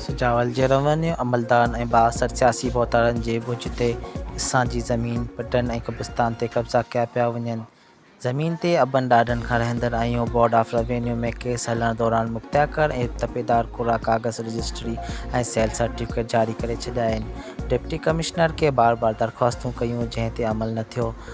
سجاول جي روينيو عملدارن ۽ بااثر سياسي ڀوتارن جي ڳجهه تي اسان جي زمين، پٽن ۽ قبرستان تي قبضا ڪيا پيا وڃن. زمين تي ابن ڏاڏن کان رهندڙ آئيون بورڊ آف روينيو ۾ ڪيس هلڻ دوران مکتياڪر ۽ تپيدار ڪورا ڪاغذ، رجسٽري ۽ سيل سرٽيفڪيٽ جاري ڪري ڇڏيا آهن. ڊپٽي ڪمشنر کي بار بار درخواستون ڪيون جنهن تي عمل نه ٿيو.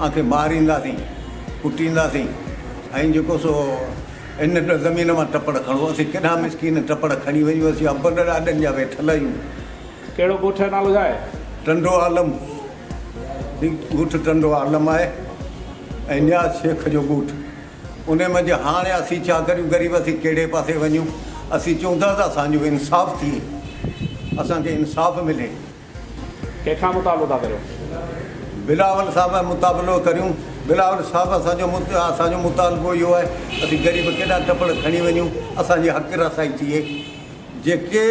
آن کي مارينداسين، ڪٽينداسين ۽ جيڪو سو ان زمين مان ٽپڙ کڻو. اسين ڪيڏا مسڪين ٽپڙ کڻي ويون، اسين ابن ڏاڏن جا ويٺل آهيون. ڪهڙو ڳوٺ آهي نالو ڇا آهي؟ ٽنڊو عالم، هي ڳوٺ ٽنڊو عالم آهي ۽ نياز شيخ جو ڳوٺ. انهي منجهه هاڻي اسين ڇا ڪريون غريب اسين ڪهڙي پاسي وڃون. اسين چون ٿا ته اسان جو انصاف ٿئي، اسان کي انصاف ملي. ڪنهن کان مطالعو ٿا ڪريو؟ بلاول صاحب مطابلو ڪريون. بلاول صاحب اسان جو اسان جو مطالبو اهو آهي اسين غريب ڪيڏا ٽپڙ کڻي وڃون اسان جي حق رسائي ٿئي جيڪي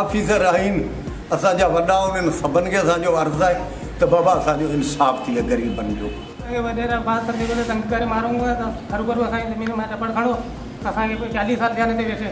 آفيسر آهين اسان جا وڏا انهن سڀن کي اسان جو عرض آهي ته بابا اسان جو انصاف ٿئي غريبن جو. اهي وڏيرا بعض دفعي ڪڏهن تنگ ڪري مارون ٿا ته هروڀرو اسان جي زمين مان ٽپڙ کڻو اسان کي چاليهه سال ٿيا ان تي ويٺي.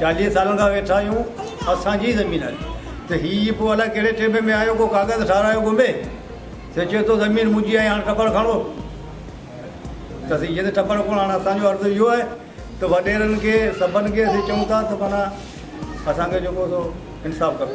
چاليهه سالن کان ويٺا آهيون اسان جي زمين آهي ته هي پوء الاء ڪهڙي ٽيبي ۾ آيو ڪو ڪاغذ ٺارايو گهمي سي چئي ٿو زمين منهنجي آهي هاڻ ٽپڙ کڻو ته سي چئي ٿو ٽپڙ ڪونه هاڻ اسان جو عرض اهو آهي ته وڏيرن کي سڀن کي اسين چئون ٿا ته معنيٰ اسان کي جيڪو سو انصاف ڪرو